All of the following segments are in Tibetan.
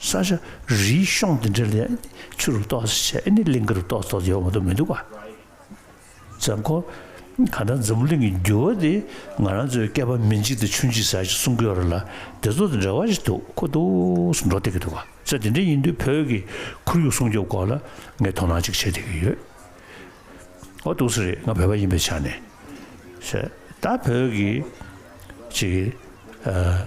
ས་ཆ་རིའི་གཤོང་འདི་འདྲ་ལས་ཆུ་རུ་གཏོགས་ཟེར་བྱས་ཨེ་ནི་གླིང་ག་རུ་གཏོགས་གཏོགས་ཡོད་མ་གཏོགས་མི་འདུག་ག་ཛམ་ཁོ། ག་འདྲ་འཛམ་བུ་གླིང་གི་འགྱུར་བ་འདི་ང་རང་ཚོའི་སྐལ་པ་མི་འཇིག་དང་ཆུ་འཇིག་ཟ་ཞིག་གསུང་གི་རོ་ལ་དེ་ཚོ་དང་འབྲེལ་བ་ཞིག་འདུག་ཁོ་ཐུགས་སུ་འགྲོ་བསྡད་ཀྱི་འདུག་ག་ཚད་དེ་འདྲ་ཡིན་དུས་བོད་ཀྱི་ཁོར་ཡུག་སྲུང་སྐྱོབ་སྐོར་ལ་ངས་དོ་སྣང་ཅིག་བྱེད་བསྡད་ཀྱི་ཡོད། ཨོ་ཐུགས་སུ་རེད་ང་བོད་པ་ཡིན་པའི་ཆ་ནས་བཤད་ད་བོད་ཀྱི་ཅིག་ཨ།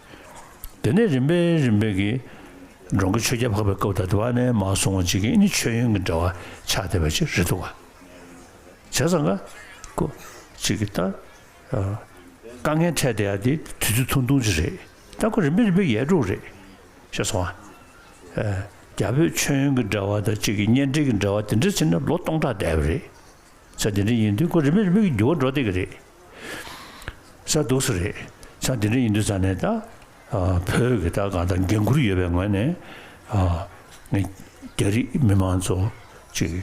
དེ་ནས་རིམ་པས་རིམ་པས་ཀྱིས། འབྲོང་གི་ཆོས་རྒྱལ་འཕགས་པའི་སྐབས་དང་བསྡུར་བ་ནས་མ་གསུང་བ་འཇིག་རྟེན་ནི་ཆོས་ཡོན་གྱི་འདྲ་བ་ཆགས་བསྡད་པ་ཅི་རེད་འདུག་ག། བྱས་ཙང་ག། ཀུ། ཅིག་གི་ལྟར། དཀའ་ངལ་འཕྲད་བསྡད་ཡ་དེ་དུས་ཚོད་ཐུང་ཐུང་ཅིག་རེད་ད་ཁོ་རིམ་པས་རིམ་པས་ཡལ་འགྲོ་གི་རེད། ཤེས་སོང་ང། རྒྱ་བོད་ཆོས་ཡོན་གྱི་འདྲ་བ་དང་གཅིག་གི་གཉེན་འབྲེལ་གྱི་འདྲ་བ་དེ་འདྲ་ཚིག་ན་ལོ་སྟོང་ཕྲག་བསྡད་པ་རེད། ཚད་དེ་འདྲ་ཡིན་དུས་ཁོ་རིམ་པས་རིམ་པས་ཀྱིས་འགྱུར་བ་འགྲོ་བསྡད་ཀྱི་རེད། ས་རྡོ་སུ་རེད་ཆ་འདི་འདྲ་ཡིན་དུས་ས་ནས་ད་བོད་ཀྱི་ད་གང་ལྟར་འགན་ཁུར་ཡོད་པའི་ངོས་ནས་ངས་རྒྱ་རིགས་མི་མང་ཚོ་ཅིག་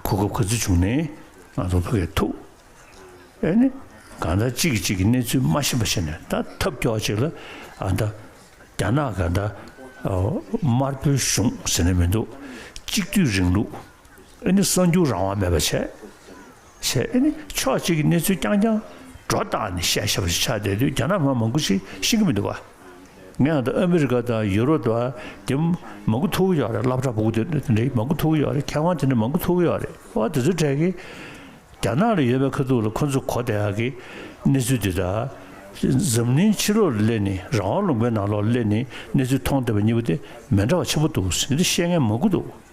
གོ་སྐབས་ག་ཚོད་བྱུང་ནས་ང་ཚོ་བོད་སྐད་ཐུག་ཨེ་ནི་གང་ལྟར་གཅིག་གིས་གཅིག་གི་གནས་ཚུལ་མ་ཤེས་པ་ཤེས་ནས་ད་ཐབས་སྐྱོ་ཅིག་ལ་ཨ་ད་རྒྱ་ནག་ག་ད་དམར་པོའི་གཞུང་ཟེར་ནས་མི་འདུག་གཅིག་སྡུད་རིང་ལུགས་ཨེ་ནི་གསར་འགྱུར་རང་དབང་མེད་པ་བྱས། ཞེས་ཨེ་ནི་ཕྱོགས་གཅིག་གི་གནས་ཚུལ་རྐྱང་རྐྱང་སྒྲོ་བཏགས་ནས་བཤད་ཤ་བོ་ཞིག་ཆགས་བསྡད་དུས་རྒྱ་ནག་མ་མང་པོ་ཞིག་ཤི་གི་མི་འདུག་ག། ངས་ཡང་ད་ཨ་མི་རི་ཀ་དང་ཡུ་རོབ་དང་དེ་མང་གུ་ཐུག་གི་ཡོད་རེད་བླ་བྲག་བུ་གུ་དེ་འདྲ་འདི་མང་གུ་ཐུག་གི་ཡོད་རེད་མཁས་དབང་དེ་འདྲ་མང་གུ་ཐུག་གི་ཡོད་རེད་བ་དེ་ཚོའི་གྲས་ཀྱི་རྒྱ་ནག་ལ་ཡོད་པའི་ཁ་ཐུག་ལ་ཁོ་ཚོ་གོ་བདེ་ཡག་གི་གནས་ཚུལ་འདི་དག་འཛམ་གླིང་ཕྱི་ལོག་ལ་སླེབས་ནས་རང་དབང་ལུང་པའི་ནང་ལོག་ལ་སླེབས་ནས་གནས་ཚུལ་མཐོང་བསྡད་པ་གཉིས་པོ་དེ་མི་འདྲ་བ་ཆེན་པོ་འདུག་ཟེར་ཏེ་བཤད་མཁན་མང་གུ་འདུག།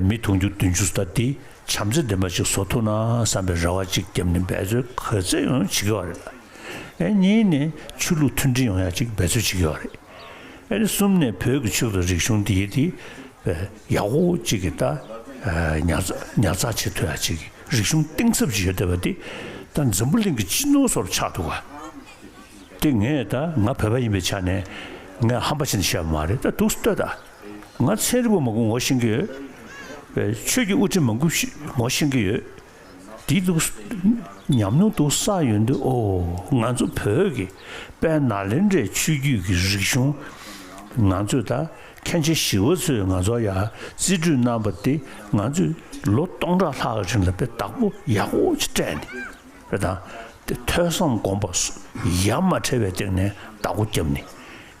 མི་དུང་ཕྱུར་བདུན་ཅུ་ས་དེ་བྱམས་བརྩེ་ལྡན་པ་ཅིག་བཟོ་ཐུབ་ན་བསམ་པའི་རེ་བ་གཅིག་བརྒྱབ་ནས་འབད་རྩོལ་ག་ཚོད་ཡང་བྱེད་ཀྱི་བ་རེད། ཨེ་གཉིས་ནས་ཆོས་ལུགས་མཐུན་སྒྲིལ་ཡོང་ཡ་གཅིག་འབད་རྩོལ་བྱེད་ཀྱི་བ་རེད། ཨེ་གསུམ་ནས་བོད་ཀྱི་ཆོས་དང་རིག་གཞུང་དེ་ཡི་དེ་ཡག་པོ་གཅིག་གི་ད་ཉར་ཚགས་བྱེད་ཐུབ་ཡ་གཅིག་གི་རིག་གཞུང་གཏིང་ཟབ་ཅིག་ཡོད་བསྡད་པ་དེ་ད་འཛམ་བུ་གླིང་གི་སྤྱི་ནོར་སོགས་ལ་ཆགས་འདུག་ག་དེ་ངས་ད་ང་བོད་པ་ཡིན་པའི་ཆ་ནས་ངས་ཧམ་པ་བྱས་ནས་བཤད་པ་མ་རེད་ད་དུག་སེ་ལྟོས་ད། ང་ཚན་རིལ་བོ་མ་གུ་ངོ་ཤེས་ཀྱི་ཡོད། ཆོས་ཀྱི་དབུ་ཁྲིད་མ་གུ་ངོ་ཤེས་ཀྱི་ཡོད། བདེ་འདུག་ཉམས་མྱོང་འདུག་ས་ཡོད་འདུག་ཨོ་ང་ཚོ་བོད་ཀྱི་དཔལ་ནཱ་ལེནྡྲའི་ཆོས་བརྒྱུད་ཀྱི་རིག་གཞུང་ང་ཚོས་ད་ཁྱེད་ཆེ་བཞི་བ་ཚོས་ང་ཚོར་ཡང་རྩིས་སྤྲོད་གནང་པ་འདི་ང་ཚོས་ལོ་སྟོང་ཕྲག་ལྷག་གི་རིང་ལ་དཔེ་བདག་པོ་ཡག་པོ་ཆེ་སྤྲད་འདི་དཔེ་དང་དེ་ཐོས་བསམ་སྒོམ་པ་ཡ་མ་བྲལ་བའི་སྟེང་ནས་བདག་པོ་བརྒྱབ་ནི་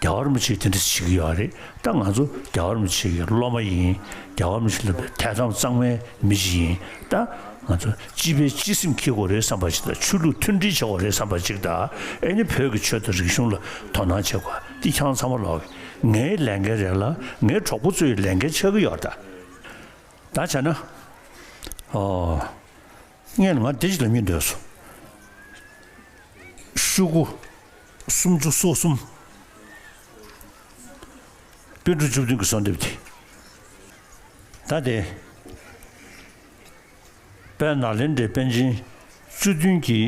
རྒྱ་གར་མི་ཆེ་དེ་འདྲ་ཞིག་ཡོད་རེད་ད་ང་ཚོ་རྒྱ་གར་མི་ཆེ་གི་སློབ་མ་ཡིན་རྒྱ་གར་མི་ཆེ་སློབ་པའི་དད་དམ་གཙང་མའི་མི་ཞིག་ཡིན་ད་ང་ཚོ་སྤྱི་པའི་སྤྱི་སེམས་འཁྱིལ་དགོས་རེད་བསམ་པ་ཞིག་དང་ཆོས་ལུགས་མཐུན་སྒྲིལ་བྱེད་དགོས་རེད་བསམ་པ་ཅིག་ད་ཨེ་ནི་བོད་ཀྱི་ཆོས་དང་རིག་གཞུང་ལ་དོ་སྣང་བྱེད་དགོས་ཏི་ཁྱང་ཚང་མ་ལོག་ངའི་ལས་འགན་རེད་ལ་ངའི་གྲོགས་པོ་ཚོའི་ལས་འགན་ཆགས་ཀྱི་ཡོད་རེད་ད་ད་བྱས་ན་ཨོ། ངས་ང་བདེ་སྐྱིད་ལ་སྙེག་འདོད་སོ། ཤུ་དགུ། སུམ་ཅུ་སོ་གསུམ། དཔེ་འབྲུ་བཅུ་བདུན་གྱི་གསོལ་འདེབས་དེ། ད་ལྟའི། དཔལ་ནཱ་ལེནྡྲའི་དཔལ་ཆེན་བཅུ་བདུན་གྱི་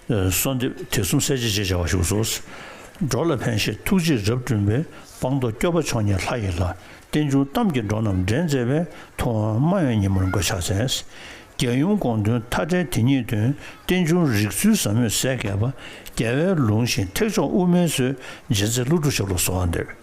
གསོལ་འདེབས་དེ་གསུམ་གསལ་བྱེད་ཅེས་བྱ་བ་བཞུགས་སོ། འགྲོ་ལ་ཕན་བཞེད་ཐུགས་རྗེས་རབ་བསྐྲུན་པའི་སྤང་རྟོགས་སྐྱོབ་པ་མཆོག་ཉིད་ལྷ་ཡི་ལྷ། རྟེན་འབྱུང་གཏམ་གྱི་འགྲོ་རྣམས་འདྲེན་མཛད་པའི་ཐུགས་དབང་རྨ་ཡོན་ཉིན་མོར་འགོད་ཕྱག་འཚལ། རྒྱལ་ཡུམ་དགོངས་དོན་མཐའ་བྲལ་དེ་ཉིད་དོན་རྟེན་འབྱུང་རིགས་ཚུལ་ཟབ་མོས་གསལ་གསལ་པ། རྒྱལ་བའི་ལུང་བཞིན་ཐེག་མཆོག་དབུ་མའི་སྲོལ་འབྱེད་མཛད་ཀླུ་སྒྲུབ་ཞབས་ལ་གསོལ་བ་འདེབས།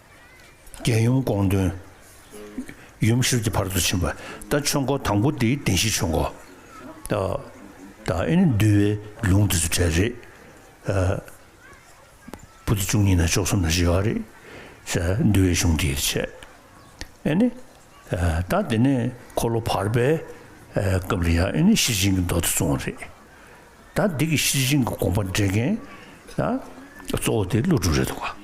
རྒྱལ་ཡུམ་དགོངས་དོན། ཡུམ་གཤེར་གྱི་བར་དུ་ཕྱིན་པ། རྟ་ཆོས་འཁོར་དང་པོ་དེའི་བདེན་བཞི་ཆོས་འཁོར། དང། ཨེ་ནི་འདུལ་བའི་ལུང་དེ་ཚུལ་བྲལ་རེད། པོ་ཏི་བཅུ་གཉིས་ན་ཕྱོགས་གསུམ་ན་བཞི་བ་རེད། འདུལ་བའི་གཞུང་དེའི་ཆེད། ཨེ་ནི། ད་དེ་ནས་འཁོར་ལོ་བར་པའི་སྐབས་ལ་ཡང་ཨེ་ནི་ཤེར་ཕྱིན་གྱི་མདོ་དེ་བཙོང་རེད། ད་འདི་གི་ཤེར་ཕྱིན་གྱི་དགོངས་པ་འགྲེལ་མཁན་གཙོ་བོ་དེ་ཀླུ་སྒྲུབ་རེད་འདུག་ག།